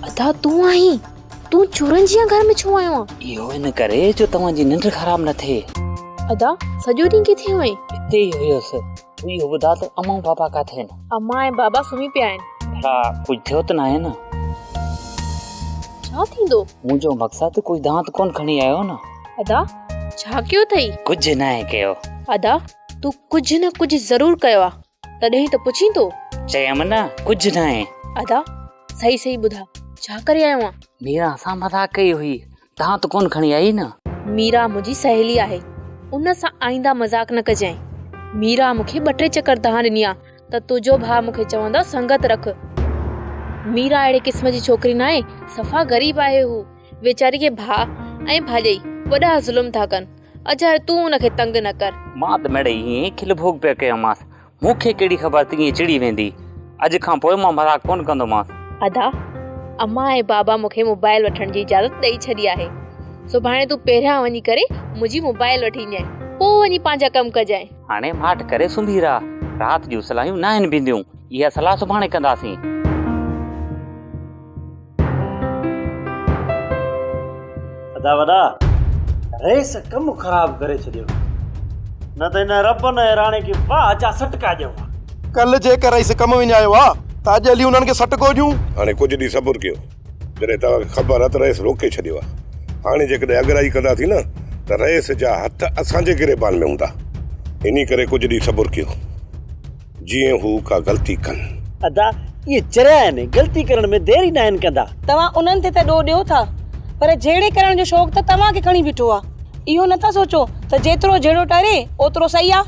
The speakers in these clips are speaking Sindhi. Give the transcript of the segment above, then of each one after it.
ادا تون آهين تون چورن جيان گهر ۾ ڇو آيو آهين اهو ان ڪري جو توهان جي ننڊ خراب نه ٿئي ادا سڄو ڏينهن ڪٿي هئين اتي ئي هيس اهو ٻڌاء ته اما ۽ بابا ڪاٿي آهن؟ اما ۽ بابا سمهي پيا آهن. ڀلا ڪجهه ٿيو ته ناهي نه؟ ڇا ٿيندو؟ منهنجو مقصد ڪوئي دانت ڪونه کڻي آيو نه؟ ادا ڇا ڪيو اٿئي؟ ڪجهه ناهي ڪيو. ادا تون ڪجهه نه ڪجهه ضرور ڪيو آ تڏهن ئي ته پڇين ٿو. چيم نه ڪجهه ناهي. ادا صحيح صحيح ٻڌاء ڇا ڪري آيو آن؟ ميران سان مذاق ڪئي هئي دانت ڪونه کڻي آئي نه. ميرا منهنجي سهيلي آهي ان سان آئنده مذاق نه ڪجانء. ميرا مون کي ٻه ٽي چڪر دانهن ڏني آ ته تنهنجو ڀاء مون کي چوندو سنگت رک. ميرا اهڙي قسم جي ڇوڪري ناهي صفا غريب آهي هو ويچاري کي ڀاء ۽ ڀاڄائي وڏا ظلم ٿا ڪن اجهائي تون ان کي تنگ نه ڪر. مان ته ميڙئي ائين ئي کل ڀوڳ پيو ڪيومانس مون کي ڪهڙي خبر ته ائين چڙي ويندي. اڄ کان پوء مان مذاق ڪونه ڪندومانس. ادا، امان ۽ بابا مون کي موبائيل وٺڻ جي اجازت ڏئي ڇڏي آهي. سڀاڻي تون پهريان وڃي ڪري منهنجي موبائيل وٺي اينديانء. پوء وڃي پنهنجا ڪم ڪجانء. هاڻي ماٺ ڪري سمهي رهه. رات جون صلاحيون ناهن بينديون. اها صلاح سڀاڻي ڪنداسين. ادا وڏا رئيس ڪم خراب ڪري ڇڏيو نه ته ان رب نه راڻي کي واهه جا سٽڪا ڏيو ڪل جيڪر رئيس ڪم وڃايو آ ته اڄ هلي انهن کي سٽڪو ڏيون هاڻي ڪجهه ڏينهن صبر ڪيو جڏهن توهان کي خبر آ ته رئيس روڪي ڇڏيو آ هاڻي جيڪڏهن اڳرائي ڪندا ٿي نه ته رئيس جا هٿ اسان جي گريبان ۾ هوندا انهي ڪري ڪجهه ڏينهن صبر ڪيو. جيئن هو ڪا غلطي ڪن. ادا اهي چريا آهن، غلطي ڪرڻ ۾ دير ئي ناهن ڪندا. توهان انهن تي ته ڏوهه ڏيو ٿا، پر جهيڙي ڪرڻ جو شوق ته توهان کي کڻي بيٺو آ. اهو نه ٿا سوچو ته جيترو جهيڙو ٽاري، اوترو سهي آ.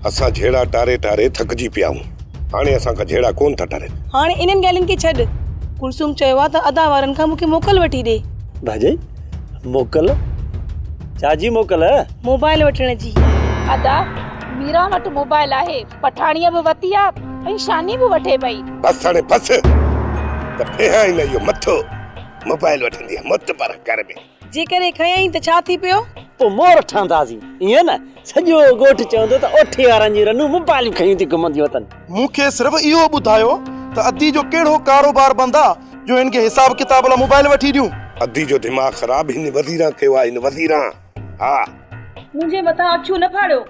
اسان جهيڙا ٽاري ٽاري ٿڪجي پيا آهيون. هاڻي اسان کان جهيڙا ڪونه ٿا ٽرن. هاڻي انهن ڳالهين کي ڇڏ. ڪلثوم چيو آ ته ادا وارن کان مون کي موڪل وٺي ڏي. ڀاڄائي، موڪل؟ ڇا جي موڪل؟ موبائل وٺڻ جي. ادا، ميران وٽ موبائل آهي. پٺاڻيء به وتي آ ۽ شاني به وٺي پئي. بس هاڻي بس ته ڦيهائين نه اهو مٿو موبائل وٺندينء مت پر ڪر ۾. جيڪڏهن کنيائين ته ڇا ٿي پيو؟ پوء مور ٺهنداسين ائين نه؟ سڄو ڳوٺ چوندو ته اوٺي وارن جون رنون موبائلون کڻي ٿي گهمنديون اٿن. مون کي صرف اهو ٻڌايو ته ادي جو ڪهڙو ڪاروبار بند آ جو هن کي حساب ڪتاب لا موبائل وٺي ڏيون. ادي جو دماغ خراب هن وزيران ڪيو آ هن وزيران ها. منهنجي مٿان اکيون نه ڦاڙيو.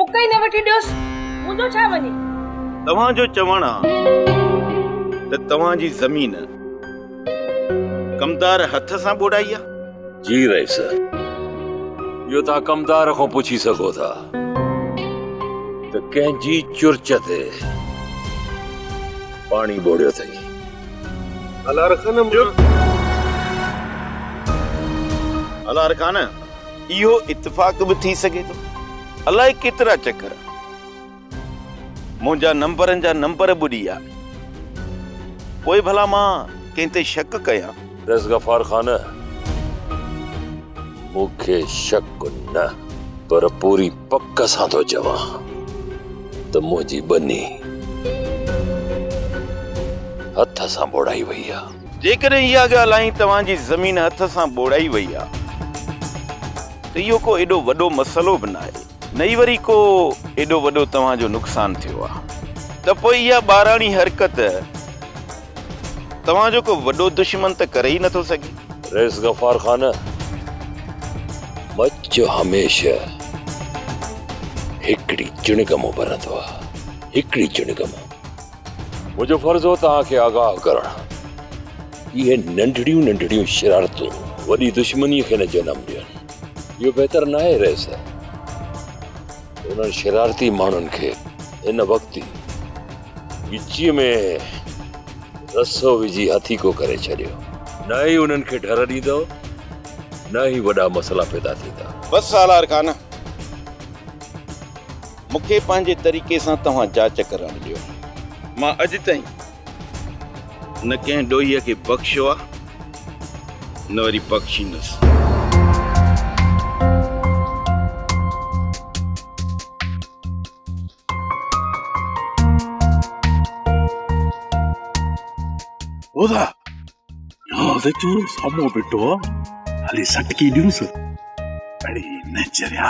اک ئي نه وٺي ڏيوس، منهنجو ڇا وڃي. توهان جو چوڻ آ ته توهان جي زمين ڪمدار هٿ سان ٻوڏائي آ؟ جي رئيس، اهو توهان ڪمدار کان پڇي سگهو ٿا ته ڪنهن جي چرچ تي پاڻي ٻوڙيو اٿئي. الارخان! چپ! الارخان! اهو اتفاق به ٿي سگهي ٿو. الائي ڪيترا چڪر منهنجا نمبرن جا نمبر به ڏي آئي. پوء ڀلا مان ڪنهن تي شڪ ڪيان؟ پريس غفار خان، مون کي شڪ نه پر پوري پڪ سان ٿو چوان ته منهنجي ٻني هٿ سان ٻوڙائي وئي آهي. جيڪڏهن اها ڳالهه ۽ توهان جي زمين هٿ سان ٻوڙائي وئي آهي ته اهو ڪو ايڏو وڏو مسئلو به ناهي نه ئي وري ڪو ايڏو وڏو توهان جو نقصان ٿيو آهي ته پوء اها ٻاراڻي حرڪت توهان جو ڪو وڏو دشمن ته ڪري ئي نٿو سگهي. رئيس غفار خان مچ هميشه هڪڙي چڻگم ڀرندو آهي هڪڙي چڻگم. منهنجو فرض هو توهان کي آگاهه ڪرڻ اهي ننڍڙيون ننڍڙيون شرارتون وڏي دشمني کي نه جنم ڏين اهو بهتر نه آهي رئيس انهن شرارتي ماڻهن کي هن وقت ئي ڳچيء ۾ رسو وجهي هٿيڪو ڪري ڇڏيو نه ئي انهن کي ڍر ڏيندو نه ئي وڏا مسئلا پيدا ٿيندا. بس سالار خان! مون کي پنهنجي طريقي سان توهان جاچ ڪرڻ ڏيو. مان اڄ تائين نه ڪنهن ڏوهي کي بخشيو آ نه وري بخشيندس. اودا نياز اچي سامهون بيٺو آ. هلي سٽڪي ڏيونس. اڙي نه چريا.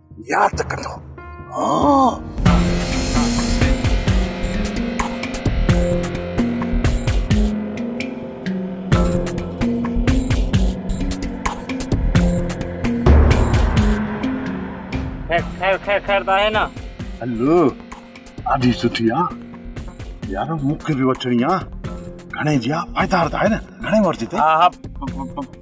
ياد ڪندو هان. خير خير خير ته آهي نه هل ڏاڍي سٺي آ يار مون کي به وٺڻي آ گهڻي جي آ پائدار ته آهي نه گهڻي ورجي تي ها ها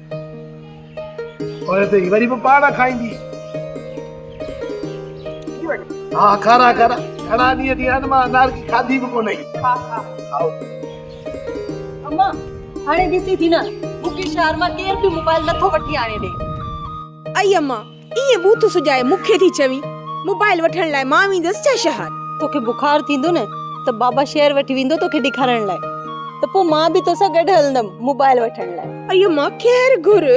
پوء ته هي وري به پاڻ کائيندي. ها کارا کارا گهڻا ڏينهن ٿي ويا آهن مان انارڪي کاڌي به ڪونهي. کاء کاء. کائو. اما هاڻي ڏسين ٿي نه مون کي شهر مان ڪير به موبائل نٿو وٺي آڻي ڏي. اي اما ايئن بوٿ سجائي مون کي ٿي چوين موبائل وٺڻ لاء مان ويندس ڇا شهر؟ توکي بخار ٿيندو نه ته بابا شهر وٺي ويندو توکي ڏيکارڻ لاء ته پوء مان به توسان گڏ هلندم موبائل وٺڻ لاء. ايو مان خير گهر.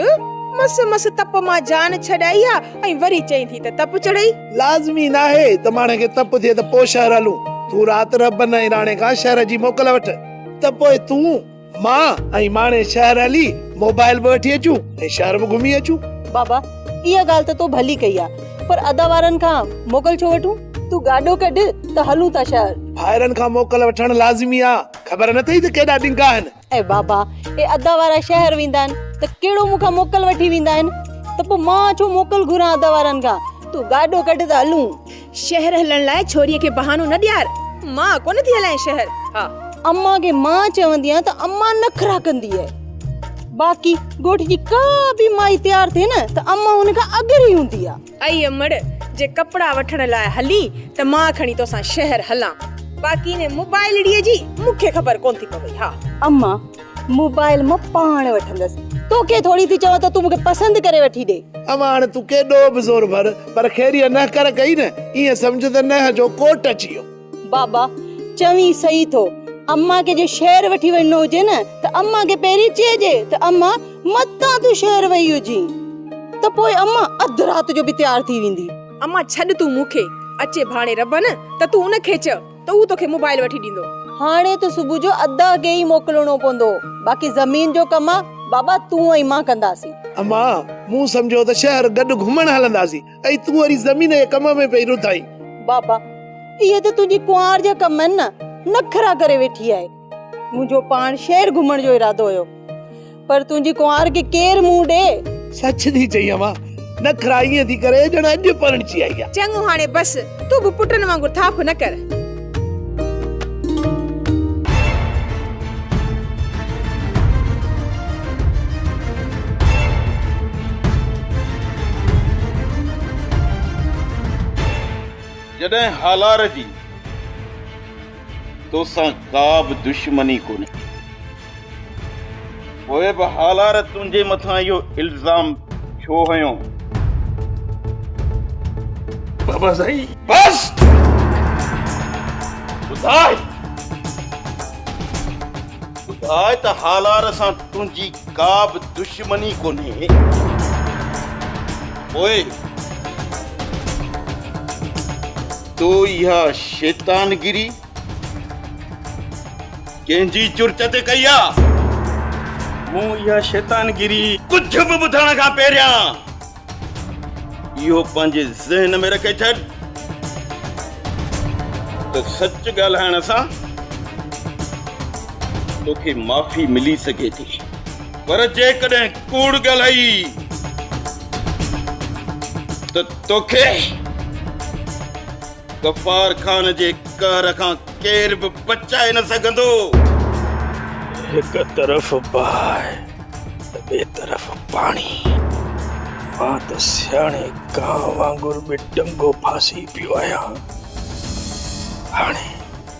مس مس تپ مان جان ڇڏائي ها ۽ وري چئين ٿي ته تپ چڙهئي. لازمي ناهي ته ماڻهي کي تپ ٿئي ته پوء شهر هلون. تون رات رهبن ۽ راڻي کان شهر جي موڪل وٺ ته پوء تون. مان ۽ ماڻي شهر هلي موبائل به وٺي اچون ۽ شهر به گهمي اچون. بابا اها ڳالهه ته تو ڀلي ڪئي آ پر ادا وارن کان موڪل ڇو وٺون؟ تون گاڏو ڪڍ ته هلون ٿا شهر. ڀائرن کان موڪل وٺڻ لازمي آ خبر نه ٿئي ته ڪيڏا ڏنگا آهن. اي بابا اي ادا وارا شهر ويندا آهن ته ڪهڙو مون کان موڪل وٺي ويندا آهن ته پو مان ڇو موڪل گهران ادا وارن کان تون گاڏو ڪڍ ته هلون. شهر هلڻ لاء ڇوريء کي بهانو نه ڏيار، مان ڪونه ٿي هلائين شهر، ها! امان کي مان چوندي آهيان ته امان نخرا ڪندي آهي. باقي ڳوٺ جي ڪا به مائي تيار ٿئي نه ته امان ان کان اڳري هوندي آهي. اي امڙ! جي ڪپڙا وٺڻ لاء هلين ته مان کڻي توسان شهر هلان، باقي انهي موبائلڙيء جي مون کي خبر ڪونه ٿي پوي، ها! امان موبائل مان پاڻ وٺندس توکي ٿوري ٿي چوان ته تون مونکي پسند ڪري وٺي ڏي. اما هاڻي تون ڪيڏو به زور ڀر پر خيريء نه ڪر ڪئي نه ائين سمجهه ته نه جو ڪوٽ اچي ويو. بابا چوين صحيح ٿو اما کي جي شهر وٺي وڃڻو هجي نه ته اما کي پهرين چئجي ته اما متان تون شهر وئي هجين ته پوء اما اڌ رات جو به تيار ٿي ويندي. اما ڇڏ تون مونکي اچي ڀاڻي ربن ته تون ان کي چئه. ته هو توکي موبائيل وٺي ڏيندو. هاڻي ته صبح جو ادا کي ئي موڪلڻو پوندو باقي زمين جو ڪم بابا تون ۽ مان ڪنداسين. اما مون سمجهيو ته شهر گڏ گهمڻ هلنداسين ۽ تون وري زمين جي ڪم ۾ پئي رڌائين. بابا اهي ته تنهنجي ڪنوار جا ڪم آهن نه نخرا ڪري ويٺي آهي. منهنجو پاڻ شهر گهمڻ جو ارادو هيو پر تنهنجي ڪنوار کي ڪير منهن ڏي. سچ ٿي چئين اما، نخرا ائين ٿي ڪري ڄڻ اڄ پرڻجي آئي آ. چڱو هاڻي بس، تون به پٽن وانگر ٿاڦ نه ڪر. جڏهن هالار جي. توسان ڪا به دشمني ڪونهي. پوء به هالار تنهنجي مٿان اهو الزام ڇو هنيو؟ بابا سائين! بس! ٻڌاء! ٻڌاء ته هالار سان تنهنجي ڪا به دشمني ڪونهي؟ پوء تو اها شيطانگيري ڪنهن جي جرئت تي ڪئي آ؟ مون اها شيطانگيري ڪجهه به ٻڌڻ کان پهريان اهو پنهنجي ذهن ۾ رکي ڇڏ ته سچ ڳالهائڻ سان توکي معافي ملي سگهي ٿي پر جيڪڏهن ڪوڙ ڳالهائي ته توکي غفار خان جي قهر کان ڪير به بچائي نه سگهندو. هڪ طرف باهه ته ٻئي طرف پاڻي. مان ته سياڻي ڪانء وانگر به ٽنگو ڦاسي پيو آهيان. هاڻي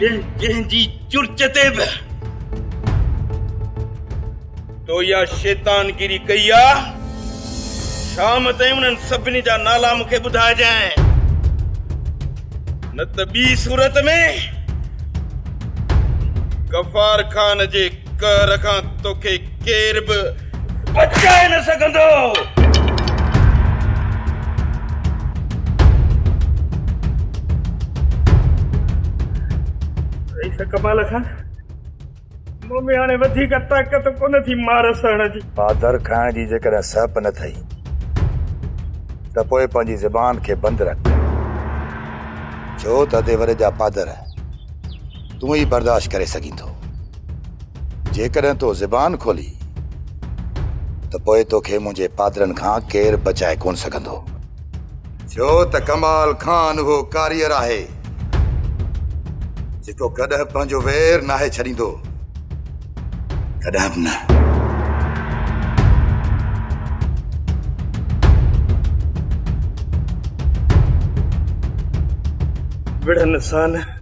جنهن جنهن جي چرچ تي به تو اها شيطان گيري ڪئي آ شام تائين انهن سڀني جا نالا مونکي ٻڌائجانء نه ته ٻي صورت ۾ غفار خان جي قهر کان توکي ڪير به بچائي نه سگهندو. رئيس ڪمال خان، مون ۾ هاڻي وڌيڪ طاقت ڪونه ٿي مار سهڻ جي. پاڌر کائڻ جي جيڪڏهن سهپ نه ٿئي ته پوء پنهنجي زبان کي بند رک. ڇو ته ادي وڏي جا پاڌر. تون ئي برداشت ڪري سگهين ٿو. جيڪڏهن تو زبان کولي ته پوء توکي منهنجي پادرن کان ڪير بچائي ڪونه سگهندو. ڇو ته ڪمال خان اهو ڪاريئر آهي جيڪو ڪڏهن پنهنجو وير ناهي ڇڏيندو. ڪڏهن به نه. وڙهن سان.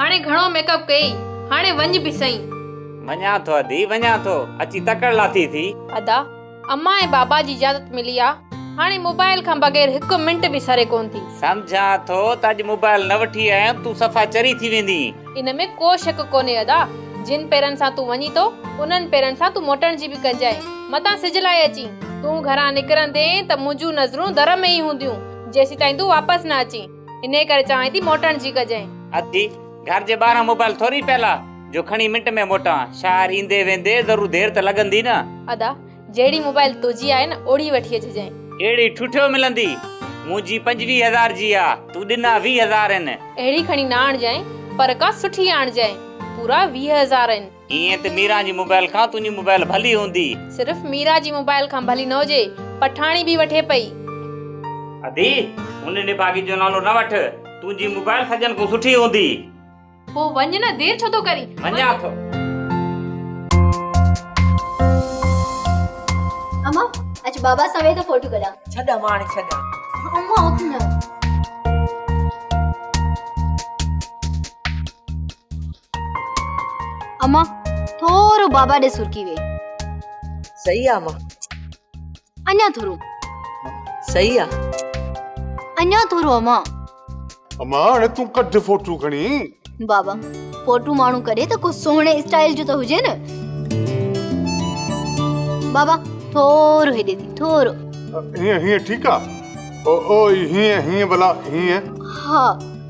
هاڻي گهڻو ميڪ اپ ڪيئي. هاڻي وڃ به سهي. وڃان ٿو ادي وڃان ٿو. اچي تڪڙ لاٿي ٿي. ادا، امان ۽ بابا جي اجازت ملي آ. هاڻي موبائل کان بغير هڪ منٽ به سري ڪونه ٿي. سمجهان ٿو ته اڄ موبائل نه وٺي آيم تون صفا چري ٿي ويندين. ان ۾ ڪو شڪ ڪونهي ادا. جن پيرن سان تون وڃين ٿو، انهن پيرن سان تون موٽڻ جي به ڪنجهائي. متان سج لاهي اچين. تون گهران نڪرندين ته منهنجون نظرون در ۾ ئي هونديون، جيسيتائين تون واپس نه اچين. انهيء ڪري چوانء ٿي موٽڻ جي ڪجانء. اٿي، گهر جي ٻاهران موبائل ٿوري پيل آ، جو کڻي منٽ ۾ موٽان. شاعر ايندي ويندي ضرور دير ته لڳندي نه. ادا، جهڙي موبائل تنهنجي آهي نه، اوڙهي وٺي اچجانء. اهڙي ٺٺيو ملندي، منهنجي پنجويهه هزار جي آ، تون ڏنا ويهه هزار آهن. اهڙي کڻي نه آڻجانء، پر ڪا سٺي آڻجانء، پورا ويهه هزار آهن. ائين ته ميران جي موبائيل کان تنهنجي موبائيل ڀلي هوندي. صرف ميران جي موبائيل کان ڀلي نه هجي، پٺاڻي به وٺي پئي. ادي، هن نڀاڳي جو نالو نه وٺ، تنهنجي موبائيل سڄن کان سٺي هوندي. پوء وڃ نه، دير ڇو ٿو ڪرين؟ وڃان ٿو. اما، اچ بابا سان ويهه ته فوٽو ڪڍان. ڇڏ اما هاڻي ڇڏ. اما اٿ نه. اما ٿورو بابا ڏي سرڪي وي صحيح آ اما اڃا ٿورو صحيح آ اڃا ٿورو اما اما هاڻي تون ڪڍ فوٽو کڻي بابا فوٽو ماڻو ڪڍي ته ڪو سهڻي اسٽائل جو ته هجي نه بابا ٿورو هيڏي ٿي ٿورو هيئن هيئن ٺيڪ آ او او هيئن هيئن ڀلا هيئن ها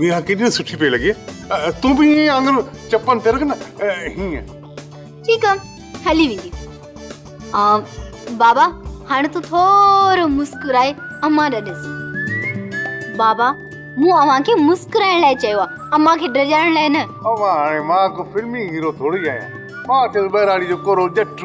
ميان ڪيڏي سٺي پئي لڳي تون به ائين آڱر چپن تي رک نه هيئن ٺيڪ آ هلي ويندي آ بابا هاڻي تو ٿورو مسڪرائي امان ڏي ڏس بابا مون اوهان کي مسڪرائڻ لاء چيو آ امان کي ڊڄائڻ لاء نه امان هاڻي مان ڪو فلمي هيرو ٿوري آهيان مان ته ٻهراڙي جو ڪورو ڄٽ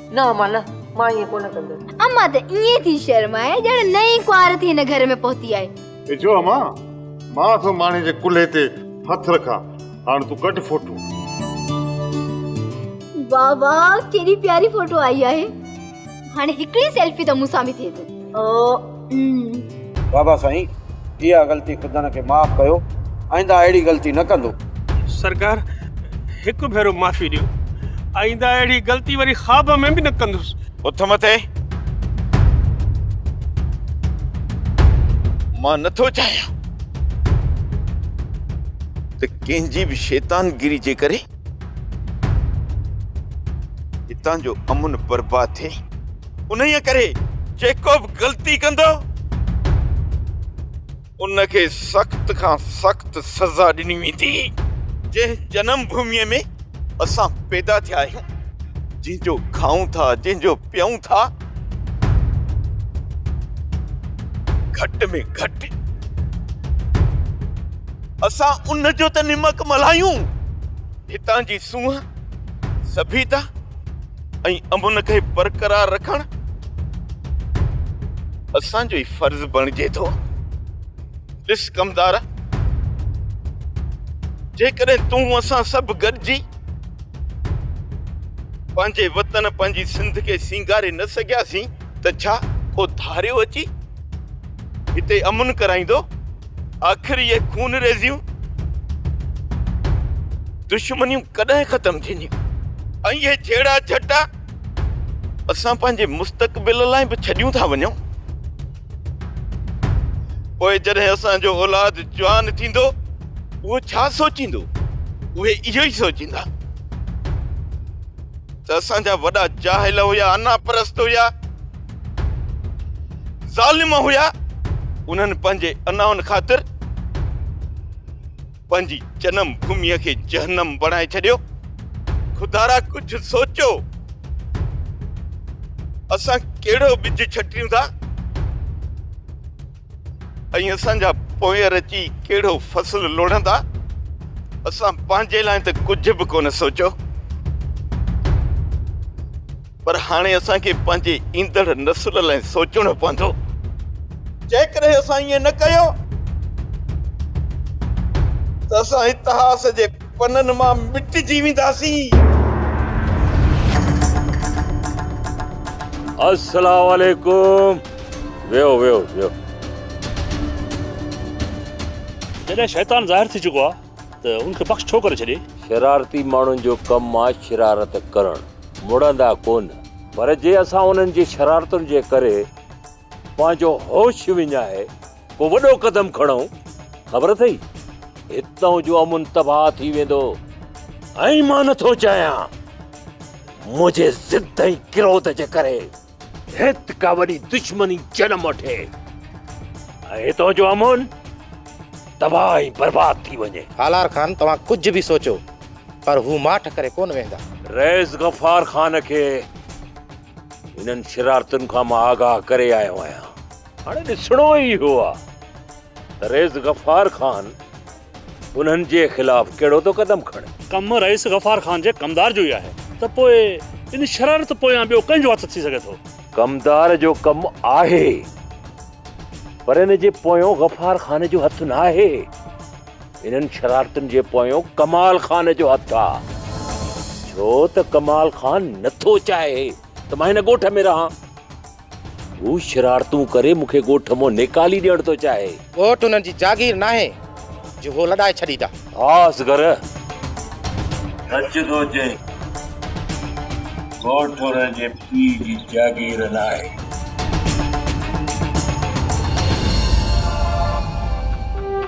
نه امان نه، مان ائين ڪونه ڪندس. امان ته ائين ٿي شرمائي ڄڻ نئين ڪنوار ٿي هن گهر ۾ پهتي آهي. هي ڇو امان، مان ٿو ماڻهي جي ڪلهي تي هٿ رکان، هاڻ تون ڪڍ فوٽو. واه واه ڪيڏي پياري فوٽو آئي آهي، هاڻي هڪڙي سيلفي ته مون سان به ٿئي ٿو. بابا سائين اها غلطي خدن کي معاف ڪيو آئنده اهڙي غلطي نه ڪندو. سرڪار هڪ ڀيرو معافي ڏيو آئنده اهڙي غلطي وري خواب ۾ به نه ڪندس. اٿ مٿي مان نٿو چاهيان ته ڪنهن جي به شيطان گيري جي ڪري هتان جو امن برباد ٿئي. انهيء ڪري جيڪو به غلطي ڪندو، ان کي سخت کان سخت سزا ڏني ويندي. جنهن جنم ڀوميء ۾ اسان پيدا ٿيا آهيون، جنهن جو کائون ٿا، جنهن جو پيئون ٿا، گهٽ ۾ گهٽ اسان ان جو ته نمڪ ملهايون، هتان جي سونهن، سڀيتا، ۽ امن کي برقرار رکڻ اسان جو ئي فرض بڻجي ٿو. ڏس ڪمدار، جيڪڏهن تون اسان سڀ گڏجي پنهنجي وطن پنهنجي سنڌ کي سينگاري نه سگهياسين ته ڇا ڪو ڌاريو اچي هتي امن ڪرائيندو؟ آخر اهي خونريزيون. دشمنيون ڪڏهن ختم ٿينديون ۽ اهي جهيڙا جهٽا اسان پنهنجي مستقبل لاء به ڇڏيون ٿا وڃون پوء جڏهن اسان جو اولاد جوان ٿيندو اهو ڇا سوچيندو اهي اهو ئي سوچيندا ته اسان جا وڏا جاهل هيا انا پرست هيا ظالم هيا انهن پنهنجي انائن خاطر پنهنجي جنم ڀوميء کي جهنم بڻائي ڇڏيو. خدارا ڪجهه سوچو. اسان ڪهڙو ٻج ڇٽيون ٿا ۽ اسان جا پوير اچي ڪهڙو فصل لوڙهندا. اسان پنهنجي لاء ته ڪجهه به ڪونه سوچيو. پر هاڻي اسان کي پنهنجي ايندڙ نسل لاء سوچڻو پوندو جيڪڏهن اسان ائين نه ڪيو ته اسان اتهاس جي پنن مان مٽجي وينداسين. السلام عليڪم ويهو ويهو ويهو. جڏهن شيطان ظاهر ٿي چڪو آهي. ته ان کي بخش ڇو ڪري ڇڏي؟ شرارتي ماڻهن جو ڪم آ شرارت ڪرڻ، مڙندا ڪونه. پر جي اسان انهن جي شرارتن جي ڪري پنهنجو هوش وڃائي ڪو وڏو قدم کڻون، خبر اٿئي هتئون جو امن تباهه ٿي ويندو. ائين مان نٿو چاهيان. منهنجي ضد ۽ ڪروڌ جي ڪري هت ڪا وڏي دشمني جنم وٺي ۽ هتان جو امن تباهه ۽ برباد ٿي وڃي. هالار خان توهان ڪجهه به سوچو پر هو ماٺ ڪري ڪونه ويهندا. رئيس غفار خان کي هنن شرارتن کان مان آگاهه ڪري آيو آهيان. هاڻي ڏسڻو ئي اهو آهي ته رئيس غفار خان انهن جي خلاف ڪهڙو ٿو قدم کڻي؟ ڪم رئيس غفار خان جي ڪمدار جو ئي آهي ته پوء ان شرارت پويان ٻيو ڪنهن جو هٿ ٿي سگهي ٿو؟ ڪمدار جو ڪم آهي پر ان جي پويان غفار خان جو هٿ ناهي. انهن شرارتن جي پويان ڪمال خان جو هٿ آ. ڇو ته ڪمال خان نٿو چاهي ته مان هن ڳوٺ ۾ رهان. هو شرارتون ڪري مون کي ڳوٺ مان نيڪالي ڏيڻ ٿو چاهي. ڳوٺ هنن جي جاگير ناهي جو هو لڏائي ڇڏيندا. ها اصغر! سچ ٿو چئين. ڳوٺ هنن جي پيء جي جاگير ناهي.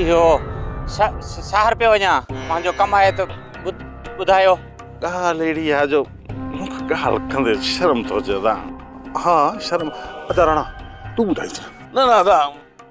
اهو شهر پيو وڃان پنهنجو ڪم آهي ته ٻڌايو ڳالهه اهڙي آهي جو مونکي ڳالهه ڪندي شرم ٿو اچي ادا ها شرم ادا راڻا تون ٻڌائينس نه نه ادا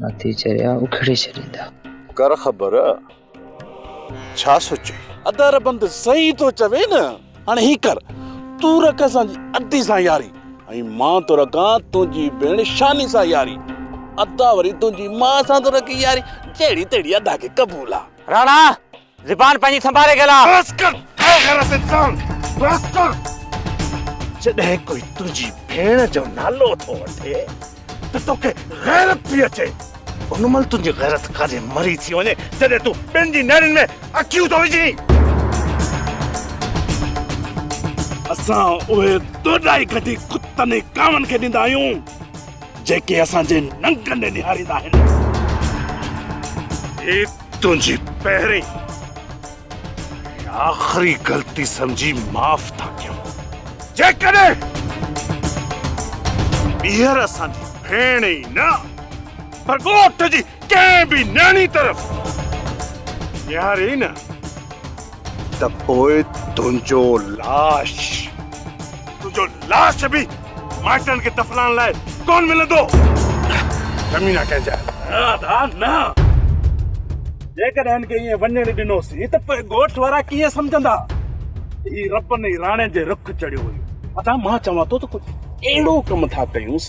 ناٿي چريا اکڙي ڇڏيندا. ڪر خبر ڇا ٿو چئي. ادا ربند صحيح ٿو چوي نه هاڻي هي ڪر تون رک اسان جي ادي سان ياري ۽ مان ٿو رکان تنهنجي ڀيڻ شاني سان ياري ادا وري تنهنجي مان سان ٿو رکي ياري جهڙي تهڙي ادا کي قبول آ. راڻا! زبان پنهنجي سنڀالي ڳالهاء. بس ڪر اي غيرت انسان بس ڪر. جڏهن ڪوئي تنهنجي ڀيڻ جو نالو ٿو وٺي ته توکي غيرت ٿي اچي. ان مهل تنهنجي غيرت ڪاڏي مري ٿي وڃي جڏهن تون ٻين جي نيڻين ۾ اکيون ٿو وجهين. اسان اهي ڏوڏائي گڊي ڪتن ۽ ڪاون کي ڏيندا آهيون جيڪي اسان جي ننگن ڏي نهاريندا آهن. تنهنجي پهرين ۽ آخري غلطي سمجهي معاف ٿا ڪيون. جيڪڏهن ٻيهر اسان جي ڀيڻ ئي نه پر ڳوٺ جي ڪنهن به نياڻي طرف نهاريئي نه ته پوء تنهنجو لاش، تنهنجو لاش به مائٽن کي دفنائڻ لاء ڪونه ملندو. ڪمينا ڪنهن جا. نه ادا نه. جيڪڏهن هن کي ائين وڃڻ ڏنوسين ته پوء ڳوٺ وارا ڪيئن سمجهندا؟ هي ربن ۽ راڻي جي رخ چڙهيو ويو. ادا مان چوان ٿو ته ڪجهه اهڙو ڪم ٿا ڪيونس.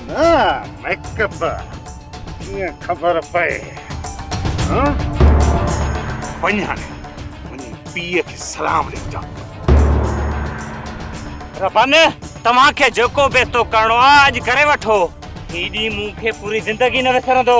نه ميڪ اپ ڪيئن خبر پئي ها وڃ هاڻي وڃي پيء کي سلام ڏيجا ربان توهان کي جيڪو بيتو ڪرڻو آهي اڄ ڪري وٺو هي ڏينهن مون کي پوري زندگي نه وسرندو